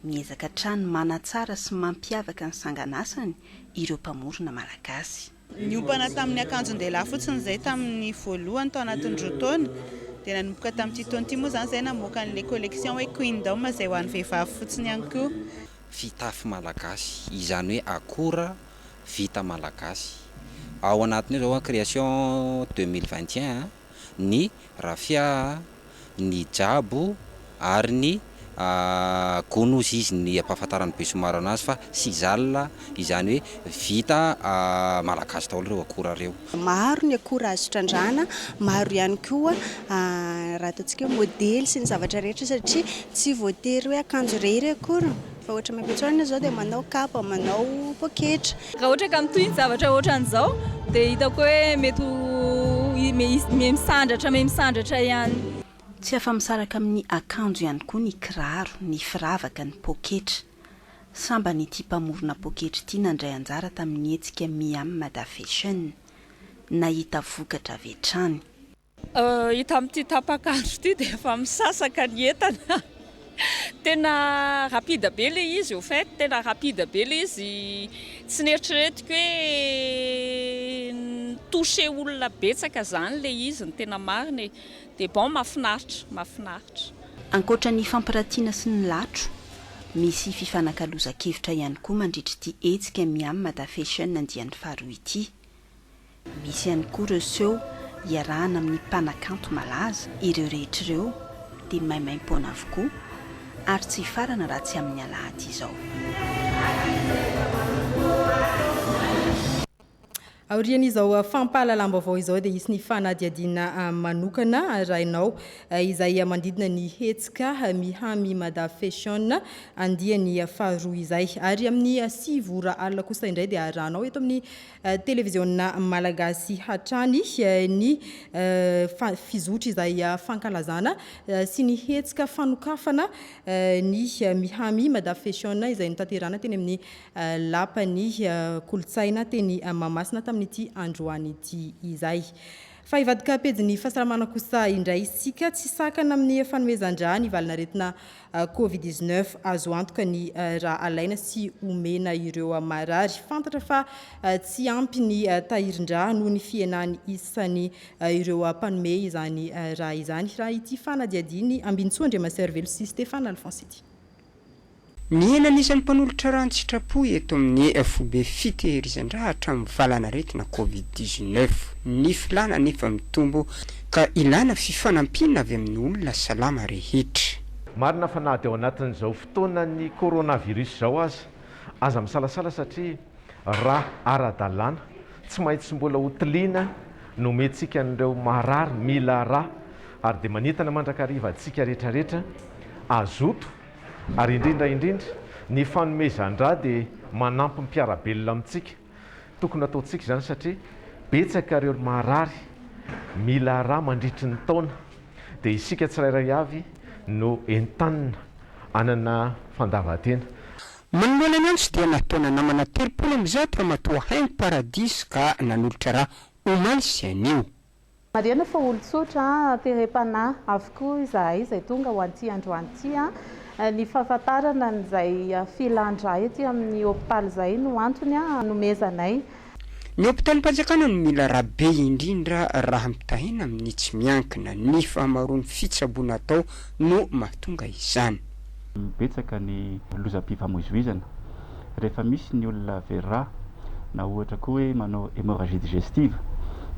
S14: Miezaka hatrany manatsara sy mampiavaka ny sanganasany ireo mpamorona malagasy. Niompana tamin'ny
S23: akanjon-dehilahy fotsiny izay tamin'ny voalohany tao anatin'ny roa taona, dia nanomboka tamin'ity taona ity moa izany izay namoaka an'ilay collection hoe Queendom izay ho an'ny vehivavy fotsiny ihany koa. Fitafy
S24: malagasy, izany hoe akora vita malagasy. Ao anatin'io izao an, création deux mille vingt et un an, ny rafia, ny jabo ary ny gonos izy ny ampahafantaran'ny besommar anazy fa sizal izany hoe vita malagasy daholo ireo akora ireo. Maro ny akora
S25: azo trandrahana, maro ihany koa raha ataontsika hoe modely sy ny zavatra rehetra satria tsy voatery hoe akanjo irery akory Raha ohatra miampitsonana izao dia manao kapa, manao poketra. Raha ohatra ka mitohy ny
S26: zavatra ohatran'izao dia hitako hoe mety ho miha misandratra miha misandratra ihany. Tsy afa-misaraka
S14: amin'ny akanjo ihany koa ny kiraro, ny firavaka, ny poketra. Sambany ity mpamorona poketra ity nandray anjara tamin'ny hetsika Miam Mada Fashion. Nahita vokatra avy hatrany. Hita
S26: amin'ity tapaka andro ity dia efa misasaka ny entana. Tena rapide be ilay izy au fait, tena rapide be ilay izy. Tsy neritreretiko hoe ni-toucher olona betsaka izany ilay izy ny tena marina e. Dia bon, mahafinaritra, mahafinaritra. Ankoatra
S14: ny fampiratiana sy ny latro, misy fifanakalozan-kevitra ihany koa mandritra ity hetsika Miam Mada Fashion andiany faharoa ity. Misy ihany koa ireo seho iarahana amin'ny mpanakanto malaza, ireo rehetra ireo dia maimaim-poana avokoa ary tsy hifarana raha tsy amin'ny alahady izao.
S1: Aorian'izao fampahalalam-baovao izao dia hisy ny fanadihadiana manokana arahinao izay manodidina ny hetsika Miha-mi Mada Fashion andiany faharoa izay. Ary amin'ny sivy ora alina kosa indray dia arahanao eto amin'ny. Televiziona Malagasy hatrany ny fizotra izay fankalazana sy ny hetsika fanokafana ny Miha-mi Mada Fashion izay notanterahana teny amin'ny Lapan'ny Kolontsaina teny Mahamasina tamin'ity androany ity izay. Fa hivadika pejin'ny fahasalamana kosa indray isika, tsy sakana amin'ny fanomezan-drà ny valin'aretina Covid dix neuf azo antoka ny raha alaina sy omena ireo marary fantatra fa tsy ampy ny tahirin-dra noho ny fihenan'ny isan'ny ireo mpanome izany raha izany raha ity fanadihadian'ny Ambinintsoa Andriamaservelo sy Stéphane Alphonse ity.
S4: Mihena ny isan'ny mpanolotra rà an-tsitrapo eto amin'ny foibe fitehirizan-dra hatramin'ny valanaretina Covid dix neuf. Ny filàna anefa mitombo. Ka ilana fifanampiana avy amin'ny olona salama rehetra. Marina fa na
S5: dia ao anatin'izao fotoanan'ny coronavirus izao aza, aza misalasala satria raha ara-dalàna, tsy maintsy mbola hotiliana ny homentsika an'ireo marary mila rà ary dia manentana mandrakariva antsika rehetrarehetra hazoto ary indrindra indrindra ny fanomezan-drà dia manampy mpiara-belona amintsika Tokony hataontsika izany satria betsaka ireo maharary mila rà mandritry ny taona dia isika tsirairay avy no entanina hanana fandavantena. Manoloana
S4: ny antso dia nataona namana telopolo amby zato ramatoa haingo paradisa ka nanolotra rà omaly sy anio. Marihana fa
S7: olon-tsotra, terem-panahy, avokoa izahay izay tonga ho an'ity androany ity. Ny fahafantarana an'izay filan-drà ety amin'ny hopitaly izay no antony hanomezanay. Ny
S4: hopitalim-panjakana no mila rà be indrindra raha mitahiana amin'ny tsy miankina. Ny fahamaroan'ny fitsaboana atao no mahatonga izany. Betsaka
S8: ny lozam-pifamoizoizana rehefa misy ny olona very rà na ohatra koa hoe manao hémorragie digestive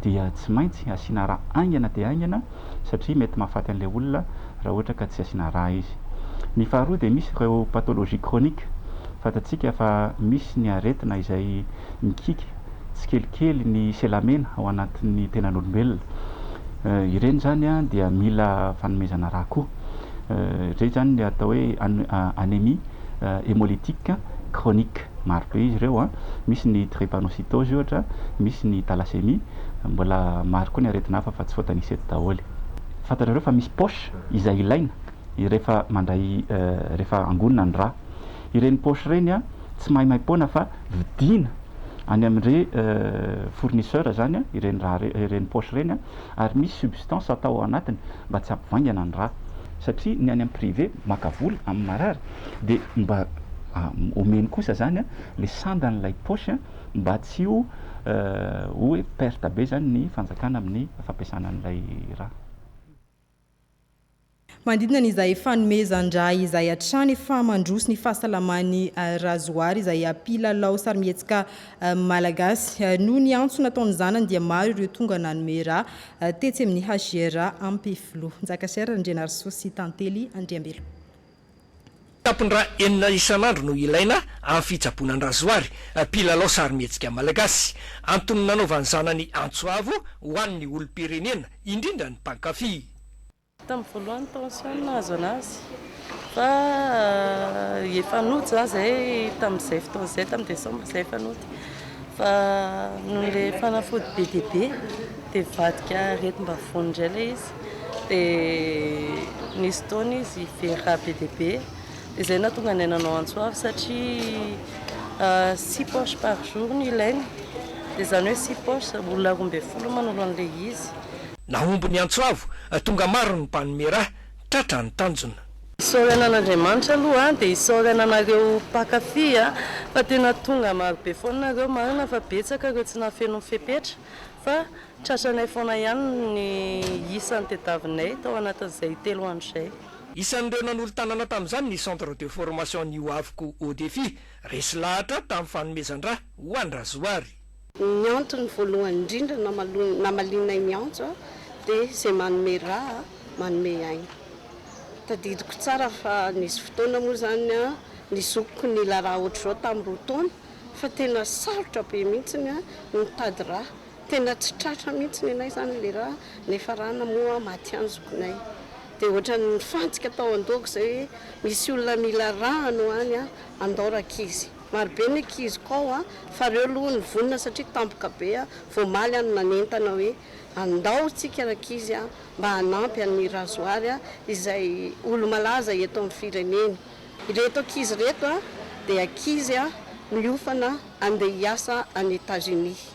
S8: dia tsy maintsy asiana rà haingana dia haingana satria mety mahafaty an'ilay olona raha ohatra ka tsy asiana rà izy. Ny faharoa dia misy ireo pathologie chronique fantatsika fa misy ny aretina izay mikiky tsikelikely ny selamena ao anatin'ny tenan'olombelona ireny izany dia mila fanomezana rà koa. izay izany ny atao hoe anémie hémolytique chronique. Maro be izy ireo, misy ny drépanocytose ohatra, misy ny thalassémie, mbola maro koa ny aretina hafa fa tsy voatanisa eto daholo. Fantatrareo fa misy poche izay ilaina rehefa mandray rehefa angonina ny rà. Ireny poche ireny tsy maimaim-poana fa vidiana any amin'ireny fournisseur izany ireny rà ireny, ireny poche ireny. ary misy substance atao ao anatiny mba tsy hampivaingana ny rà satria ny any amin'ny privé maka vola amin'ny marary dia mba omeny kosa izany ilay sandan'ilay poche mba tsy ho hoe perte be izany ny fanjakana amin'ny fampiasana an'ilay rà.
S1: Manodidina ny izay fanomezan-dra izay hatrany efa mandroso ny fahasalaman'i Razoary izay mpilalao sarimihetsika malagasy. Noho ny antso nataon'ny zanany dia maro ireo tonga nanome ra tetsy amin'ny HJRA Ampefiloha. Njakasiera Randrianarisoa sy Tantely Andriambelo.
S9: Tampon-dra enina isan'andro no ilaina amin'ny fitsaboana an-dRazoary, mpilalao sarimihetsika malagasy. Antony nanaovany zanany antso avo ho an'ny olom-pirenena, indrindra ny mpankafy. Tamin'ny
S10: voalohany tension no nahazo anazy fa efa nody izany izay tamin'izay fotoana izay, tamin'ny desambra izay efa nody fa noho ilay fanafody be dia be dia nivadika aretim-bavony indray ilay izy. dia nisy fotoana izy very raha be dia be dia izay no nahatonga anay nanao antsoava satria six poches par jour no ilainy dia izany hoe six poches olona roa ambin'ny folo no manolo an'ilay izy. Nahomby ny
S9: antsoavo, tonga maro ny mpanome ra, tratra ny tanjona. Isaorana
S10: an'Andriamanitra aloha dia isaorana anareo mpankafy fa tena tonga marobe foana nareo, marina fa betsaka ireo tsy nahafeno ny fepetra fa. Tratranay foana ihany ny isany tediavinay tao anatin'izay telo andro izay. Isan'ireo
S9: nanolo-tanana tamin'izany ny Centre de Formation Ny Ho Avoko Haut Défi, resy lahatra tamin'ny fanomezan-dra ho an'i Razoary. Ny antony
S27: voalohany indrindra namalianay ny antso dia izay manome ra, manome aina. Tadidiko tsara fa nisy fotoana moa izany ny zokiko nila ra ohatr'izao tamin'ny roa taona fa tena sarotra be mihitsy ny mitady ra. Tena tsy tratra mihitsy nenay izany ilay rà, niafarana moa maty ihany zokinay. Dia ohatran'ny nifantsika tao an-dohako izay hoe misy olona mila rà anao any an, andao rankizy. Marobe ny ankiziko ao an, fa ireo aloha nivonona satria tampoka be an, vao omaly aho no nanentana hoe andao isika rankizy an, mba hanampy an'i Razoary an, izay olo-malaza eto amin'ny firenena. Ireto ankizy ireto an, dia ankizy an, miofana handeha hiasa any Etazonia.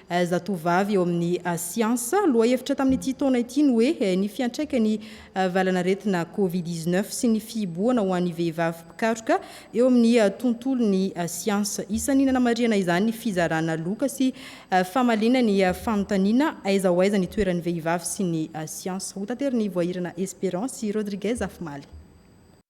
S1: Zatovovavy eo amin'ny siansa. Lohahevitra tamin'ity taona ity ny hoe Ny fiantraikan'ny valanaretina Covid dix neuf sy ny fihibohana ho an'ny vehivavy mpikaroka eo amin'ny tontolon'ny siansa. Isan'ny nanamarihana izany ny fizarana loka sy famaliana ny fanontaniana Aiza ho aiza ny toeran'ny vehivavy sy ny siansa? Ho taterin'i Voahirana Esperance sy Rodriguez afomaly.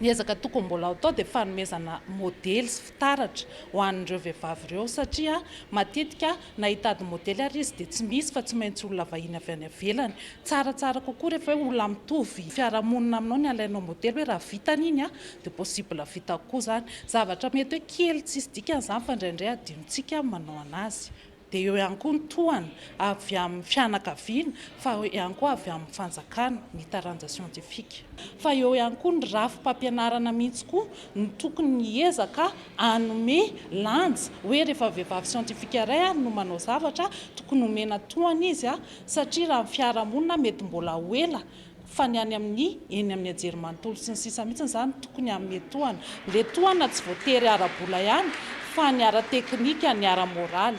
S2: Ny ezaka tokony mbola
S11: hatao dia fanomezana modely sy fitaratra ho an'ireo vehivavy ireo satria matetika na hitady modely ary izy dia tsy misy fa tsy maintsy olona vahiny avy any ivelany. Tsaratsara kokoa rehefa hoe olona mitovy fiarahamonina aminao ny alainao modely hoe raha vitany iny dia possible vitako koa izany. Zavatra mety hoe kely tsisy dikany izany fa indraindray adinontsika ny manao an'azy. dia eo ihany koa ny tohana avy amin'ny fianakaviana fa eo ihany koa avy amin'ny fanjakana, ny taranja siantifika. Fa eo ihany koa ny rafi-pampianarana mihitsy koa no tokony hiezaka hanome lanja hoe rehefa vehivavy siantifika iray ary no manao zavatra tokony homena tohana izy satria raha ny fiarahamonina mety mbola ho ela Fa ny any amin'ny eny amin'ny hajery manontolo sy ny sisa mihitsy izany tokony hanome tohana. Ilay tohana tsy voatery ara-bola ihany fa ny ara-teknika, ny ara-moraly.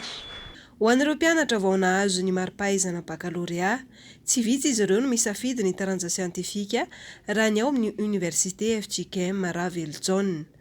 S11: Ho an'ireo
S2: mpianatra vao nahazo ny mari-pahaizana bakalorea, tsy vitsy izy ireo no misafidy ny taranja siantifika raha ny ao amin'ny Oniversite FJKM Ravelonjaona.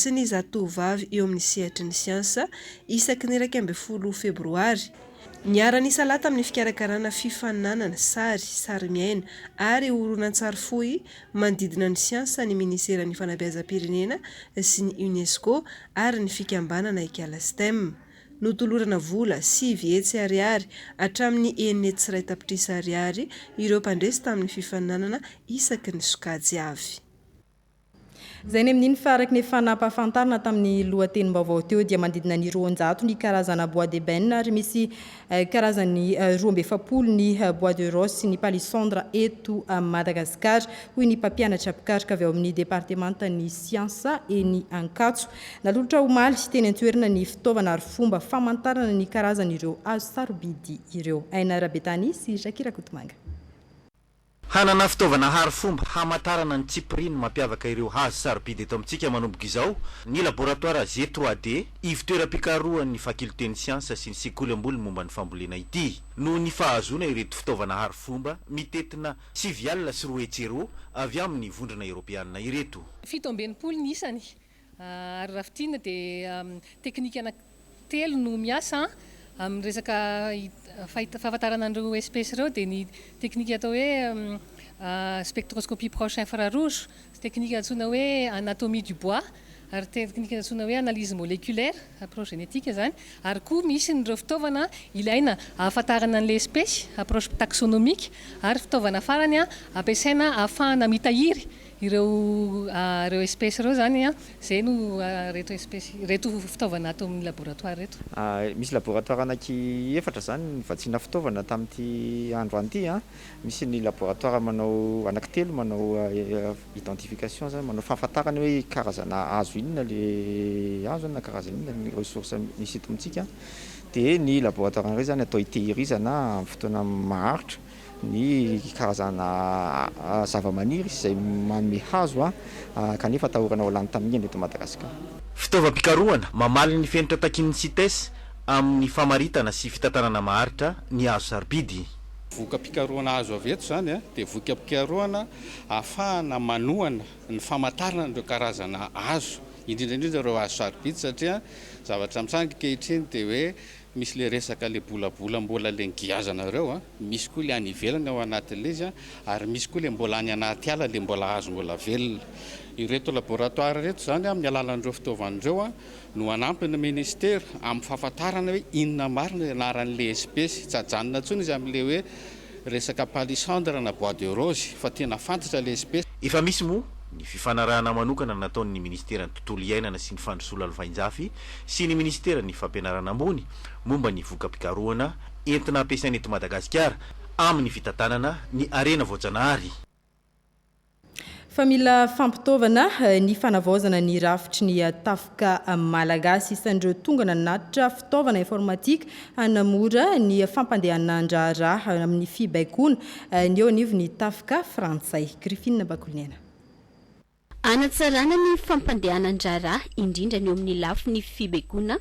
S2: sy ny zatovovavy eo amin'ny sehatry ny siansa, isaky ny iraika ambin'ny folo Febroary. Niara-nisalahy tamin'ny fikarakarana fifaninanana sary, sarimiaina ary horonantsary fohy manodidina ny siansa ny Minisiteran'ny Fanabeazam-pirenena sy ny UNESCO ary ny fikambanana Ikala Stem. Notolorana vola sivy hetsy ariary hatramin'ny enina hetsy sy iray tapitrisa ariary ireo mpandresy tamin'ny fifaninanana isaky ny sokajy avy.
S1: Izay ny amin'iny fa araka ny efa nampahafantarina tamin'ny lohatenim-baovao teo dia manodidina ny roanjato ny karazana bois d'ebène ary misy karazany roa amby efapolo ny bois de rose sy ny palissandre eto Madagasikara, hoy ny mpampianatra mpikaroka avy ao amin'ny departemantan'ny siansa eny Ankatso. Nalolotra omaly teny an-toerana ny fitaovana ary fomba famantarana ny karazan'ireo hazo sarobidy ireo. Aina Rabetany sy Jackie Rakotomanga.
S13: Hanana fitaovana hary fomba hamantarana ny tsipiriany mampiavaka ireo hazo sarobidy eto amintsika manomboka izao ny laboratoara G3D, ivo-toeram-pikarohan'ny Fakiolten'ny Siansa sy ny Sekoly Ambony momba ny Fambolena ity. Noho ny fahazoana ireto fitaovana hary fomba mitentina sivy alina sy roa hetsy euro avy amin'ny Vondrona Eoropeanina ireto. Fito amby enimpolo ny
S15: isany, Ary raha fintinina dia teknika anaky telo no miasa amin'ny resaka fahafantarana an'ireo espèces ireo dia ny teknika atao hoe spectroscopie proche infrarouge, teknika antsoina hoe anatomie du bois ary teknika antsoina hoe analyse moleculaire, approche génétique izany, ary koa misy ireo fitaovana ilaina ahafantarana an'ilay espèce, approche taxonomique, ary fitaovana farany ampiasaina ahafahana mitahiry Ireo ireo espèces ireo izany an, izay no ireto espèces ireto fitaovana ato amin'ny laboratoire ireto. Misy laboratoire
S3: anaky efatra izany nivatsiana fitaovana tamin'ity androany ity an. Misy ny laboratoire manao anaky telo manao identification izany manao fahafantarana hoe karazana hazo inona le hazo na karazana inona ny ressource misy eto amintsika. Dia ny laboratoire iray izany atao hitehirizana amin'ny fotoana maharitra. ny karazana zavamaniry izay manome hazo kanefa atahorana ho lany tamingana eto Madagasikara. Fitaovam-pikarohana
S13: mamaly ny fenitra takian'ny Cites amin'ny famaritana sy fitantanana maharitra ny hazo sarobidy. Voka-pikarohana
S16: azo avy eto izany dia voka-pikarohana ahafahana manohana ny famantarana an'ireo karazana hazo, indrindra indrindra ireo hazo sarobidy satria ny zavatra mitranga ankehitriny dia hoe Misy le resaka le bolabola mbola le ngiazanareo a, misy koa le any ivelany ao anaty le izy a, ary misy koa le mbola any anaty ala le mbola azo mbola velona. Ireto laboratoire ireto izany amin'ny alalan'ireo fitaovana ireo a, no hanampy ny Ministera amin'ny fahafantarana hoe inona marina ny anaran'ilay espesy, tsy hajanona intsony izy amin'ilay hoe, Resaka palissandre na bois de rose fa tena fantatra le espece. Efa misy moa
S13: ny fifanarahana manokana nataon'ny Ministeran'ny Tontolo Iainana sy ny Fandrosoana Lovainjafy sy ny Ministeran'ny Fampianarana Ambony momba ny voka-pikarohana entina ampiasaina eto Madagasikara amin'ny fitantanana ny harena voajanahary
S1: Fa mila fampitaovana ny fanavaozana ny rafitry ny tafika malagasy. Isan'ireo tonga nanatitra fitaovana informatika hanamora ny fampandehanan-draharaha amin'ny fibaikoana ny eo anivon'ny tafika frantsay. Griffin Bakoliniaina.
S17: Hanatsarana ny fampandehanan-draharaha indrindra ny eo amin'ny lafiny fibaikoana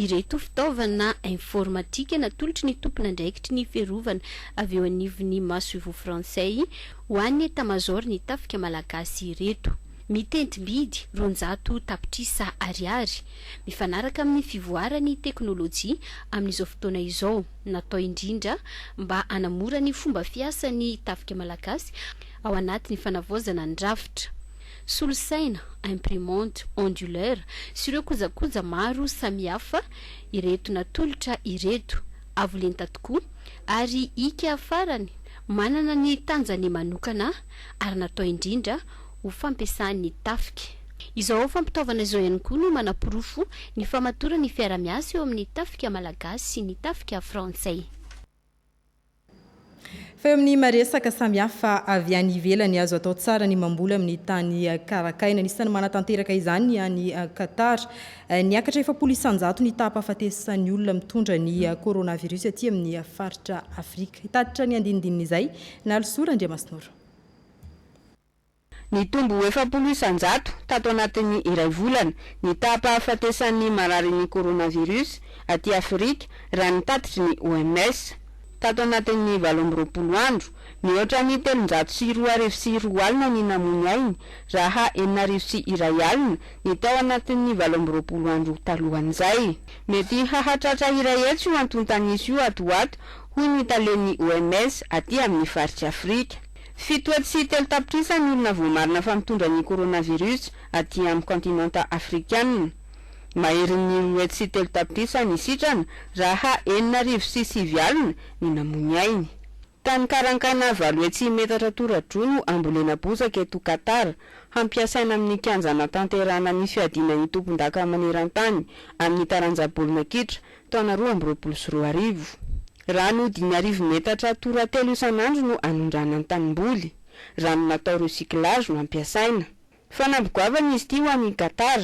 S17: ireto fitaovana informatika natolotry ny tompon'andraikitry ny fiarovana avy eo anivon'ny masoivoho frantsay ho an'ny etamazaoron'ny tafika malagasy ireto. Mitentim-bidy roanjato tapitrisa ariary, mifanaraka amin'ny fivoaran'ny teknolojia amin'izao fotoana izao, natao indrindra mba hanamora ny fomba fiasan'ny tafika malagasy, ao anatin'ny fanavaozana ny rafitra, solosaina, imprimante, onduleur sy ireo kojakoja maro samihafa ireto natolotra ireto, avo lenta tokoa ary ika farany manana ny tanjany manokana ary natao indrindra ho fampiasan'ny tafika. Izao fampitaovana izao ihany koa no manaporofo ny famatoran'ny fiarahamiasa eo amin'ny tafika malagasy sy ny tafika frantsay.
S1: Fa eo amin'ny maresaka samihafa avy any ivelany, azo atao tsara ny mamboly amin'ny tany karakaina. Anisan'ny manatanteraka izany ny any Qatar. Niakatra efapolo isanjato ny taham-pahafatesan'ny olona mitondra ny coronavirus aty amin'ny faritra Afrika. Hitatitra ny andinindininy izay Nalisoa Randriamasinoro.
S18: Nitombo ho efapolo isan-jato tato anatin'ny iray volana ny taham-pahafatesan'ny mararin'ny coronavirus aty Afrika raha ny tatitry ny OMS. Tato anatin'ny valo amby roapolo andro, mihoatra ny telonjato sy roa arivo sy roa alina ny namoy ny ainy raha enina arivo sy iray alina ny tao anatin'ny valo amby roapolo andro talohan'izay. Mety hahatratra iray hetsy io antontan'isa io ato ho ato, hoy ny talen'ny OMS aty amin'ny faritr'i Afrika. Fito hetsy sy telo tapitrisa ny olona voamarina fa mitondra ny coronavirus aty amin'ny kaontinanta afrikanina. Maherin'ny roa hetsy sy telo tapitrisa ny sitrana raha enina arivo sy sivy alina ny namoy ainy. Tany Karankaina valo hetsy metatra tora-droa no ambolena bozaka eto Qatar, hampiasaina amin'ny kianja hanatanterahana ny fiadiana ny tompondaka maneran-tany amin'ny taranja baolina kitra taona roa amby roapolo sy roa arivo. Rano dimy arivo metatra tora telo isan'andro no anondrana ny tanimboly. Rano natao recyclage no ampiasaina. Fanamby goavana izy ity ho an'i Qatar.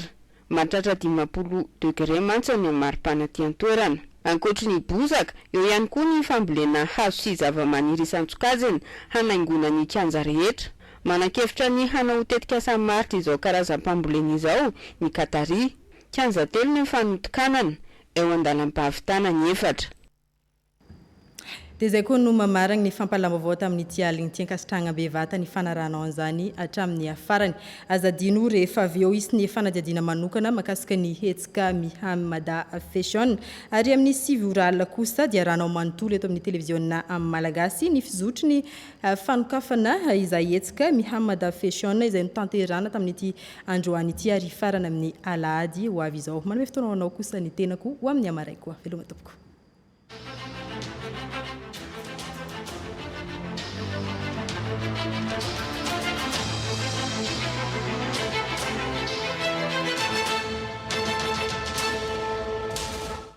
S18: Mahatratra dimampolo degre mantsy ny mari-pana aty an-toerana. Ankoatry ny bozaka, eo ihany koa ny fambolena hazo sy zavamaniry isan-tsokajiny hanaingoana ny kianja rehetra. Manan-kevitra ny hanao ho tetikasa maharitra izao karazam-pambolena izao ny Qatari. Kianja telo no fanotokanana, eo an-dalam-pahavitana ny efatra.
S1: Dia izay koa no mamaragny ny fampahalavam-baovao tamin'ity aligny ity ankasitrahagna bevata ny fanarahanao an'izany hatramin'ny farany. Aza adino rehefa avy eo hisy ny fanadihadiana manokana makasika ny hetsika Miha Mada Fashion. Ary amin'ny sivy ora alina kosa dia arahanao manontolo eto amin'ny televiziona Malagasy ny fizotry ny fanokafana izay hetsika Miha Mada Fashion izay notanterahana tamin'ity Androany ity ary hifarana amin'ny alahady ho avy izao. Manome fotoana ho anao kosa ny tenako ho amin'ny hamaray koa. Veloma tompoko.